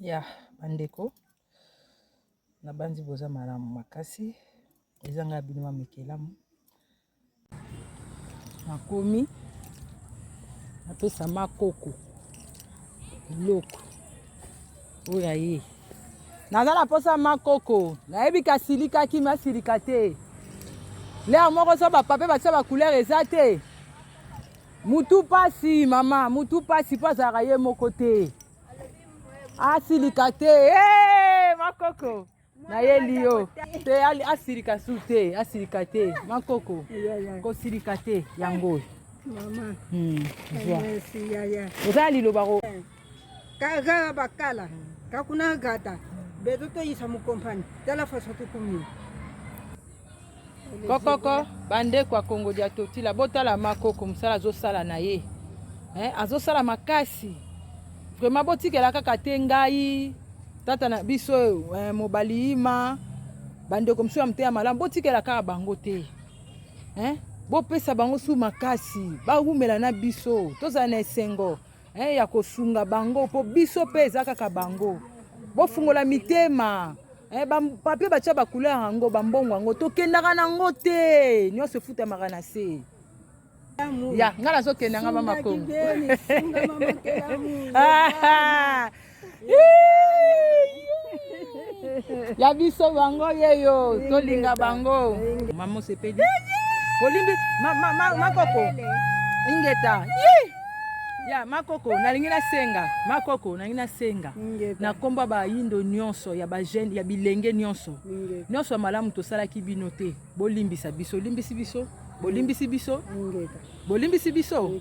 ya bandeko na banzi boza malamu makasi ezanga ya bino ma mikelamu nakomi napesa makoko biloko oyo aye naza na mposa makoko nayebi kasilikaki masilika te lere moko so bapape batia bacoulere eza te mutu mpasi mama mutu mpasi mpo azalaka ye moko te asilika te hey, makoko nayeli yo te asilika su te asilika te makoko kosilika te yango oyo hmm, eza ya liloba ko eh, kaga bakala kakuna gata bezo toyisa mokompani tala faso tokomi kokoko bandeko ya kongo dia totila botala makoko mosala azosala na ye eh, azosala makasi vraimen botikela kaka te ngai tata na biso eh, mobali ima bandeko mosusu ya moteya malamu botikela kaka bango te eh, bopesa bango su makasi bawumela na biso tozala na esengo eh, ya kosunga bango mpo biso mpe eza kaka bango bofungola mitema eh, bapapie batya bacouleur yango bambongo yango tokendaka na yango te nyonso efutamaka na se ya ngai nazokenda nga bamakongo ya biso bango yeyo tolinga bango mama osepeli olimbi makoko ingeta ya makoko nalingi nasenga makoko nalingi nasenga na nkombo bayindo nyonso ya bajeune ya bilenge nyonso nyonso ya malamu tosalaki bino te bolimbisa biso olimbisi biso bolimbisi biso bolimbisi biso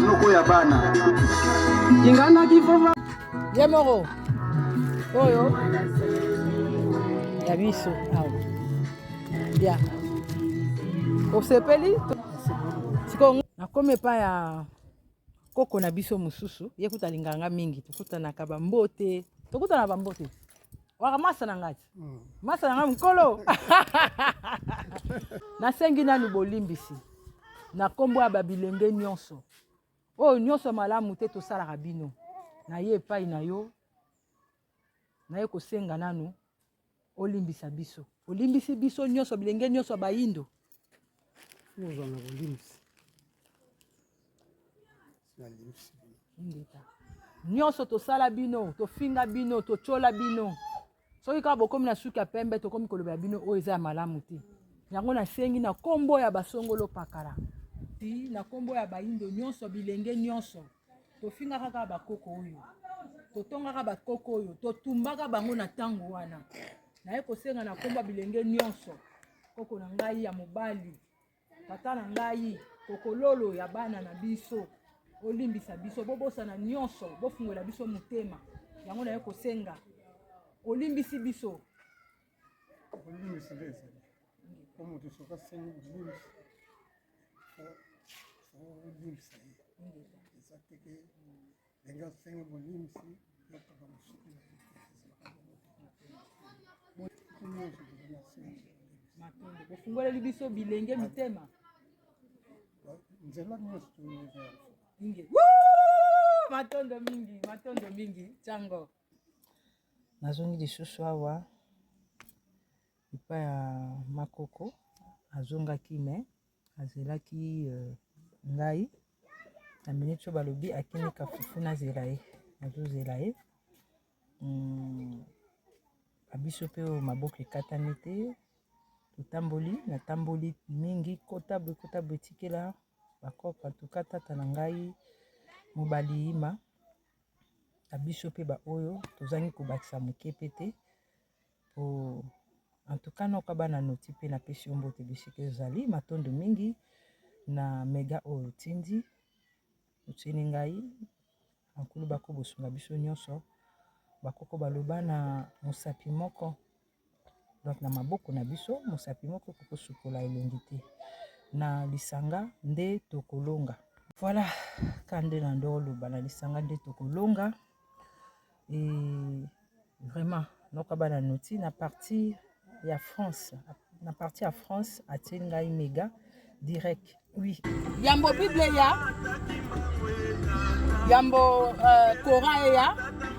noko ya bana kingana kifova ye moko oyo ya biso awa ya osepeli sikoyo nakomi epai ya koko na biso mosusu ye kuta alinganga mingi tokutanaka bambote tokutana bambote wakamasa na ngati hmm. masa na ngai mokolo nasengi nanu bolimbisi na nkombo ya babilenge nyonso oyo nyonso malamu te tosalaka bino naye epai na yo naye kosenga nanu olimbisa biso olimbisi biso nyonso bilenge nyonso ya bayindo Oza na bolimsi. Na limsi. Ndeta. Nyonso tosala bino, tofinga bino, totyola bino. Soki kaka bokomi na suki ya pembe, tokomi kolobela bino oyo eza ya malamu te. Yango nasengi na kombo ya basongolo pakala. Na kombo ya baindo nyonso, bilenge nyonso. tofingaka kaka bakoko oyo totongaka bakoko oyo totumbaka bango na ntango wana naye kosenga na nkomba bilenge nyonso koko na ngai ya mobali tata na ngai kokololo ya bana na biso olimbisa biso bobosana nyonso bofungola biso motema yango naye kosenga olimbisi biso kolimbisa nde ezali po moto soki asengi bolimbisi olimbisa ye eza teke ndenge asengi bolimbisi yataka mosuki na ye matonge bofungoleli biso bilenge mitema nzela nyonso toyingi matondo mingi matondo mingi cango nazongi lisusu awa epa ya makoko azongaki me azelaki ngai na miniti oyo balobi akimika fufu nazela ye azozela ye na biso mpe oyo maboko ekatami te totamboli natamboli mingi kota boye kota boye etikela bakopa toka tata na ngai mobali yima na biso mpe baoyo tozangi kobakisa moke mpe te po en tout cas noka bana noti mpe napesi yo mbote bisika ezali matondo mingi na mega oyo otindi otyeli ngai bankulu bako bosunga biso nyonso bakoko baloba na mosapi moko Donc na maboko na biso mosapi moko ekoki ko sukola elongi te. Na lisanga nde toko longa. Voilà ka nde na ndo loba na lisanga nde toko longa. Et vraiment noko ba na noti na partie ya France na partie ya France atie ngai mega direct. Oui. Yambo Bible ya yambo uh, Coran ya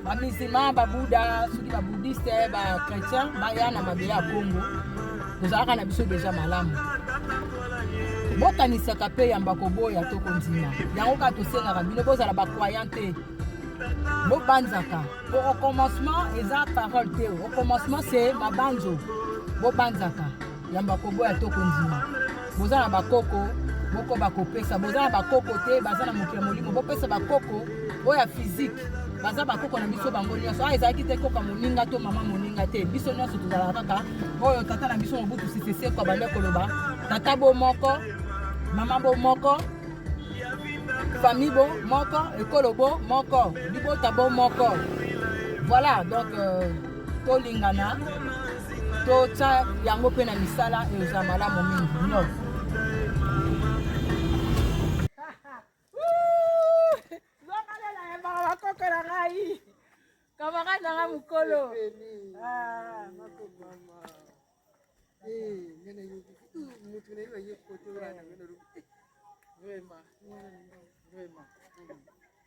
ba musulman ba Bouddha soki ba bouddhiste ba chrétien baya na mabele ya Congo tozalaka na biso deja malamu bokanisaka mpe yamba koboya to kondima yango kaka tosengaka bino bozala bacroyant te bobanzaka po au commencement eza parole te au commencement se mabanzo bobanzaka yamba koboya to kondima boza na bakoko bokoba kopesa boza na bakoko te baza na mokili ya molimo bopesa bakoko oyo ya fizike baza bakoko na biso bango nyonso a ah, ezalaki te koka moninga to mama moninga te biso nyonso tozalaka kaka oyo tata na biso mobutu siseseko abandi koloba tata bo moko mama bo moko famille bo moko ekolo bo moko libota bo moko voilà donc euh, tolingana totya yango mpe na misala eza malamu mingi no bakoko na ngai kamarade na ngai mokolo ah, eh, eh,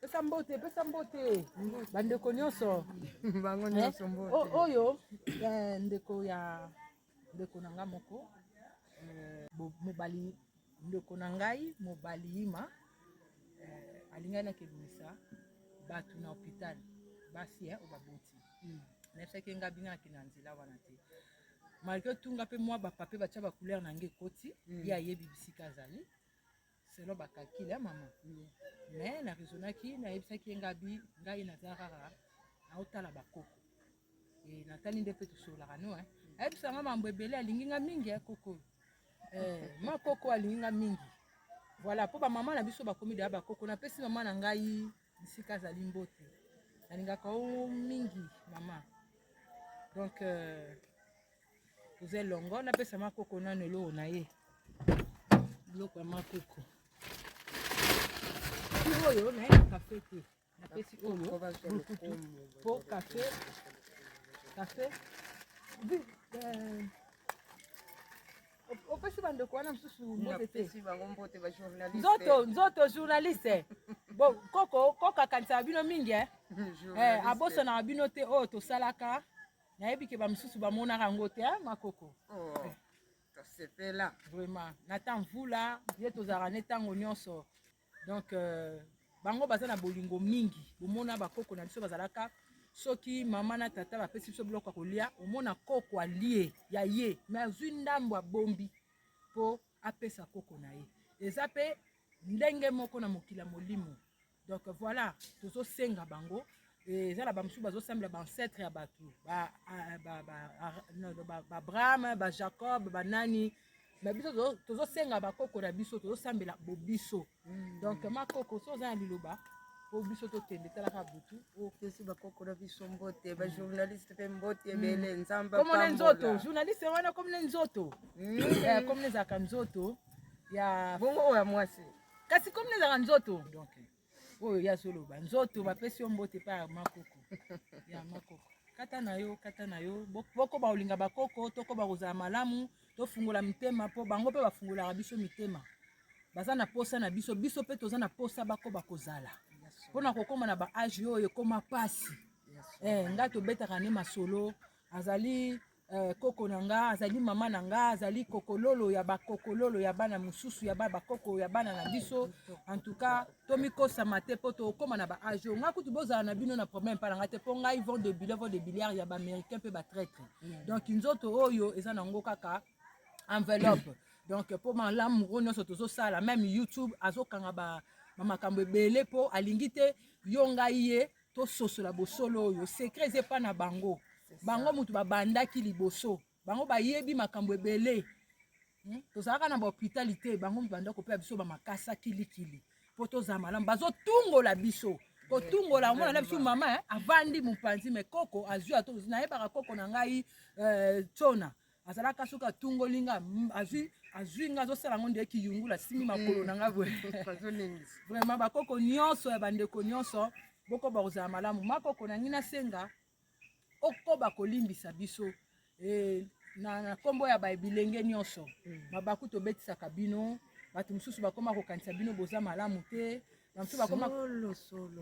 pesa mbote pesa mbote bandeko nyonso bango nyonso mbote oyo ndeko ya ndeko na nga moko mobali Ndeko na ngai mobali Ima eh, alingaki nakebimisa bato na hopital basi eh, obaboti mm. nayebisaki ngai bino nakende na nzela wana te malgré tout nga mpe mwa bapape batya bacouleur na ngai ekoti mm. ye ayebi bisika azali selon bakakili ya mama mm. mais na raisonnaki nayebisaki ye ngabi ngai naza kaka naotala bakoko Eh, natali nde mpe tosololaka no eh. ayebisa nga mambo ebele alingi nga mingi ya eh, koko eh, ma koko alingi nga mingi voilà mpo bamama na biso bakomi deya bakoko napesi mama na ngai bisika azali mbote nalingaka o oh, mingi mama donc euh, toza elongo napesa makoko nano eloko na ye biloko ya makoko oyo nayebaka mpe te napesi oyo po kafe kafe euh, opesi bandeko wana mosusu mbote te nzoto nzoto journaliste bo koko koko akanisaka bino mingi eh? eh, abosanaka bino te oyo oh, tosalaka nayebi ke bamosusu bamonaka yango te eh, makoko oh, eh. tosepela vraiment nata mvula ye tozalaka ne ntango nyonso donc euh, bango baza na bolingo mingi bomona bakoko na biso bazalaka soki mama na tata bapesi biso biloko ya kolia omona koko alie ya ye me azwi ndambo abombi mpo apesa koko na ye eza mpe ndenge moko na mokili ya molimo donc voilà tozosenga bango Eh, eza na bamosusu bazosambela baancetre ya bato baabraham bajacob banani me biso tozosenga bakoko na biso tozosambela bobiso hmm. donc makoko so oza na liloba po biso tokende talaka butu opesi oh, bakoko na biso mbote hmm. bajournaliste mpe mbote hmm. ebele nzambe komona nzoto journaliste wana komona nzoto eh, komona ezalaka nzoto ya bongo oyo ya mwasi kasi komona ezalaka nzoto donc oyo ye azoloba nzoto bapesi yo mbote epai ya makoko ya makoko kata na yo kata na yo bokoba kolinga bakoko tokoba kozala malamu tofungola mitema mpo bango mpe bafungolaka biso mitema baza na posa na biso biso mpe toza na posa bakoba kozala mpo na kokoma na baage oyo ekoma mpasi eh, ngai tobetaka nde masolo azali Eh, koko na nga azali mama na nga azali kokololo ya bakokololo ya bana mosusu ya bana bakoko ya bana na biso en tout cas tomikosama te mpo tokóma na baage oyo ngai kutu bozala na bino na problème mpa na ngai te mpo ngai vont de bile vont de biliard ya baaméricain mpe batraitre mm. donc nzoto oyo eza na ngo kaka enveloppe donc mpo malamu oyo nyonso tozosala meme youtube azokanga ba makambo ebele mpo alingi te yo ngai ye tososola bosolo oyo secret eza epa na bango bango moto babandaki liboso bango bayebi makambo ebele hmm? tozalaka na bahopitali te bango moto banda kopela biso bamakasa kilikili mpo tozala malamu bazotungola biso kotungola omona na biso mama eh, avandi mopanzi me koko azwi ato nayebaka koko na ngai eh, tsona eh, azalaka soki atungoli nga azwi azwi nga azosala yango nde kiyungula asimbi makolo na nga boye vraiment bakoko nyonso ya bandeko nyonso bokoba kozala malamu makoko na ngi nasenga okoba kolimbisa biso e, na, na kombo ya babilenge nyonso mm. mabaku tobetisaka bino bato mosusu bakoma kokanisa bino boza malamu te bamosusu bakoma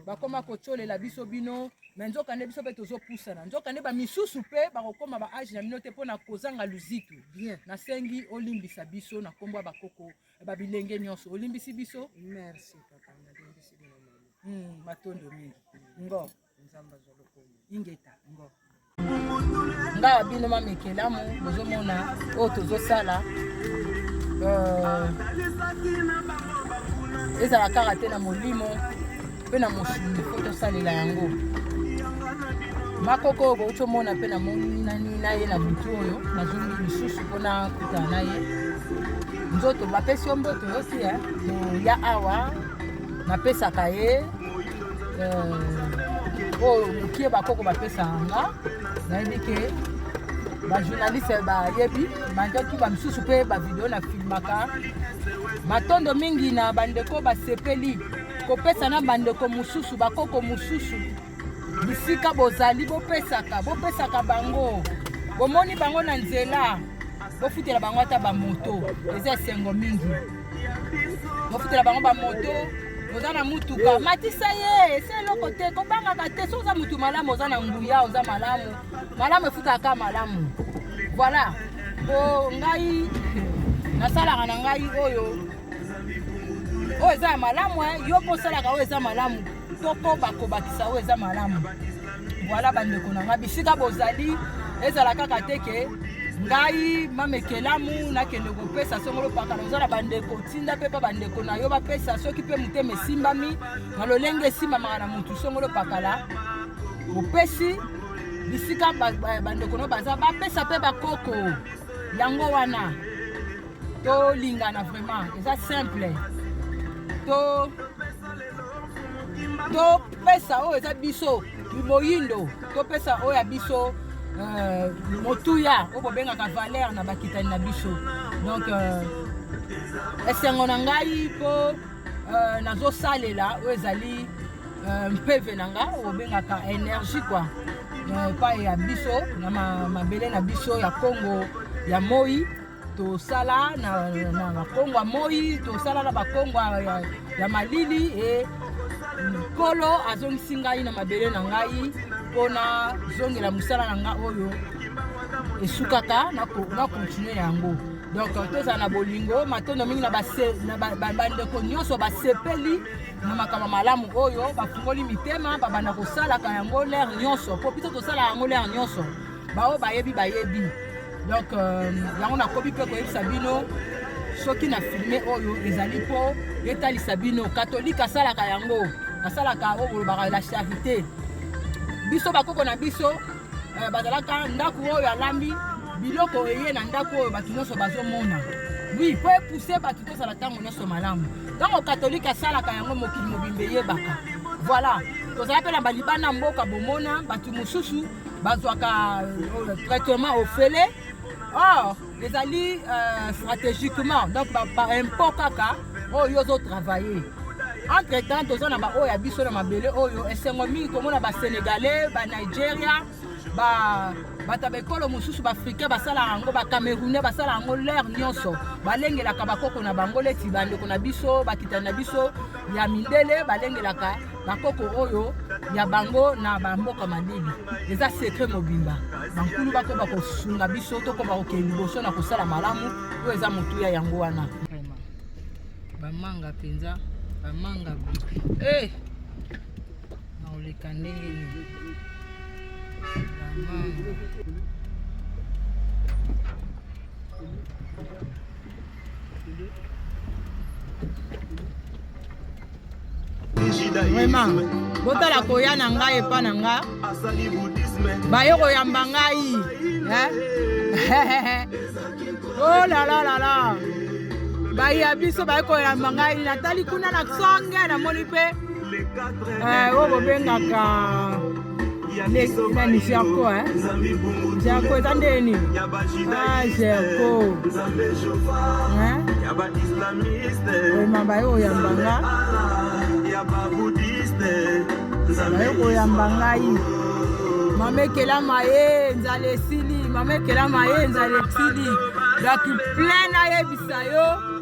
bakoma kotyolela biso bino me nzoka nde biso mpe tozopusana nzoka nde bamisusu mpe bakokoma ba age na bino te mpo na kozanga luzitu nasengi olimbisa biso na nkombo ya bakoko babilenge nyonso olimbisi biso merci papa nalimbisi bino matondo mingi ngo nzambe azwa lokumu ingeta ngo nga bino mamekelamu bozomona oyo tozosala euh, ezala kaka te na molimo mpe na mosuni mpo tosalela yango makoko oyo bouti omona mpe namonani na ye na butu oyo nazongi lisusu mpo nakutana na ye nzoto bapesi yo mboto yosi ya awa napesaka ye euh, oyo oh, mokie bakoko bapesaka nga nayebi ke bajournaliste bayebi manjaki bamisusu mpe bavideo na filmaka matondo mingi na bandeko basepeli kopesa na bandeko mosusu bakoko mosusu bisika bozali bopesaka bopesaka bango bomoni bango na nzela bofutela bango ata bamoto eza esengo mingi bofutela bango bamoto oza na mutuka matisa ye ese eloko te kobangaka te so oza mutu malamu oza na nguya oza malamu malamu efutaka malamu voilà po ngai nasalaka na ngai oyo oyo eza ya malamu eh. yo mpo osalaka oyo eza malamu tokoba kobakisa oyo eza malamu voilà bandeko na ngai bisika bozali ezala kaka te ke ngai mamekelamu nakende kopesa songolo pakala oza na bandeko tinda mpe mpa bandeko na yo bapesa soki mpe motema esimbami na lolenge esimbamaka na motu songolo pakala opesi bisika bandeko na yo baza bapesa mpe bakoko yango wana tolingana vraiment eza simple to topesa oyo eza biso moyindo topesa oyo ya biso euh, motuya oyo bobengaka valeur na bakitani na biso donc euh, esengo na ngai mpo euh, nazosalela oyo ezali mpeve na nga obengaka energie kua epai ya biso na mabele na biso ya kongo ya moi tosala na, na bakongo ya moi tosala na bakongo ya, ya malili e nkolo azongisi ngai na mabele na ngai mpo nazongela mosala na ngai oyo esukaka na kontinue yango donc tozala na bolingo matondo mingi na bandeko nyonso basepeli na makambo malamu oyo bafungoli mitema babanda kosalaka yango lere nyonso mpo biso tosala yango lere nyonso baoyo bayebi bayebi donc euh, yango nakomi mpe koyebisa bino soki na filme oyo ezali mpo etalisa bino katolike asalaka yango asalaka oyo bolobaka la charité biso bakoko na biso euh, bazalaka ndako oyo alambi biloko eye na ndako oyo bato nyonso bazomona wi mpo epuse bato tozala ntango nyonso malamu ntango katolike asalaka yango mokili mobimba eyebaka voilà tozala mpe na balibana mboka bomona bato mosusu bazwaka euh, traitement ofele or ezali euh, stratégiquement donc baimpot kaka oyo ozo travailler entre temps toza na baoyo ya biso na mabele oyo esengo mingi komona basénégalais banigeria bato ya baekolo mosusu baafricain basalaka yango bacamerounais basalaka yango lere nyonso balengelaka bakoko na bango leti bandeko na biso bakitani na biso ya mindele balengelaka bakoko oyo ya bango na bamboka malili eza sekret mobimba bankulu bakoba kosunga biso tokoba kokende liboso na kosala malamu oyo eza motuya yango wana bamanga mpenza bamanga hey! Eh! naoleka ndenge nini bamanga vraiment botala koya na ngai epa na nga baye koyamba ngai olalalala oh bayi ya biso baye koyamba ngai natali kuna na songe namoni mpe eh, oyo bobengaka nani gerco gerco eza nde nini ah gerco oyemamba yo oyambanga bayo koyamba ngai mama ekelama ye nzala esili mama ekelama ye nzala esili donc plein ayebisa yo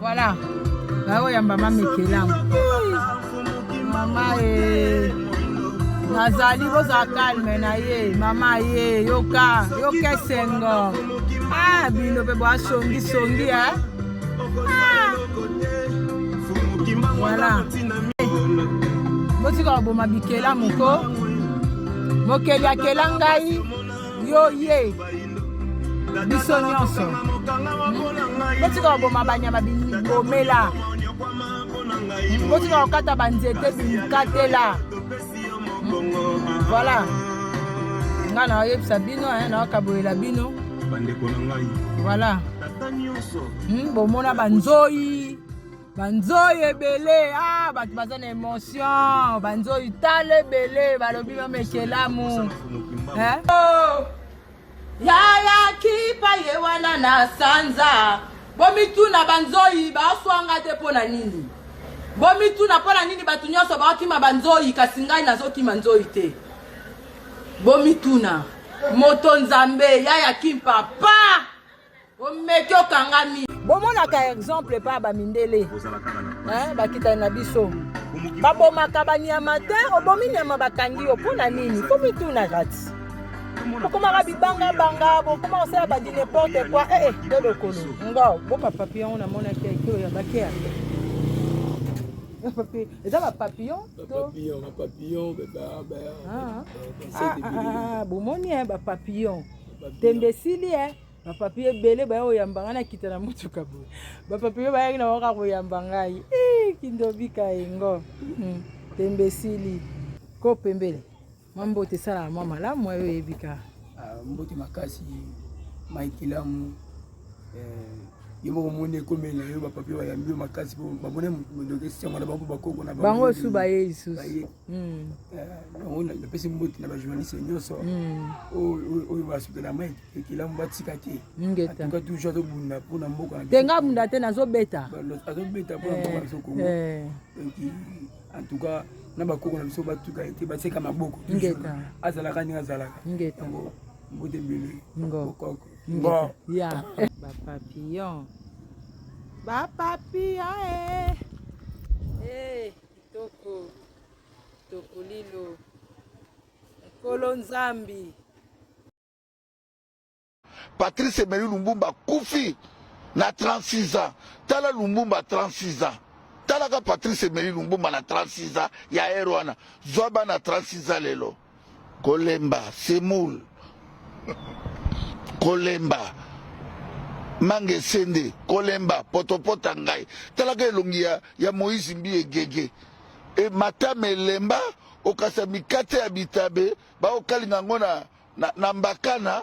Voilà. baoyamba mamekelango mama ye nazali kozala kalme na ye mama ye yoka yoka esengo ah bino mpe bwasongisongi e eh? ah. voilà botika koboma bikela moko mokeli akela ngai yo ye biso nyonso botika koboma banyama bibomela botika kokata banzete bikatela voilà nga naoyebisa bino naokabolela bino bandeko na ngai voilà hmm, bomona banzoi banzoi ebele ah, bato baza na emotion banzoi tala ebele balobi mama ekelamu eh? oh, yaya kipa ye wana na sanza bomituna banzoi baswanga te mpo na nini bomituna mpo na nini bato nyonso bakima banzoi kasi ngai nazokima nzoi te bomituna moto nzambe yaya kimpa pa omeki okangami bomonaka exemple epa ba mindele bakitani na biso babomaka banyama te obomi nyama bakangi yo mpo na nini mpo mituna kati bokomaka bibangabanga bokoma kosala badi neporte koi ee eh, eh, nde lokolo ngo bo bapapi yango namonaki ekolo ya bakea eza bapapillon bomoni bapapillon tembe esili e bapapi ebele baya koyamba ngai nakita na motuka boye bapapi oyo bayaki na waka koyamba ngai eh, kindobika yengo hmm, tembe esili ko pembele mwa mbote esalaka mwa malamu ayo oyebi ka ah, mbote makasi maikilamu eh, ye moko omoni ekomela yo bapapi bayambi yo makasi bamoni mondoki esengo na bango bakoko na bango osu baye lisusu Hmm. Eh, napesi mbote na bajournaliste nyonso hmm. oyo basutela mai ekelamu batika te atuka toujours azobunda mpo na mboka te nga bunda te nazobeta azobeta mpo na mboka biso kongo eh, eh. en tout cas na bakoko na biso batuka ete baseka maboko azalaka ndenge azalaka yango mbote ebele bokoko bapapillon bapapillon Toko toko lilo Nkolo Nzambi. Patrice Emery Lumbumba kufi na 36 ans. Tala Lumbumba 36 ans. Talaka Patrice Emery Lumbumba na 36 ans ya ero wana. Zwa bana 36 ans lelo. Kolemba, semoule. Kolemba. Manga esende, kolemba, potopota ngai. Talaka elongi ya, ya Moïse Mbiye Gege. E matame elemba, okasa mikate ya bitabe, baokalinga yango na, na, na mbakana.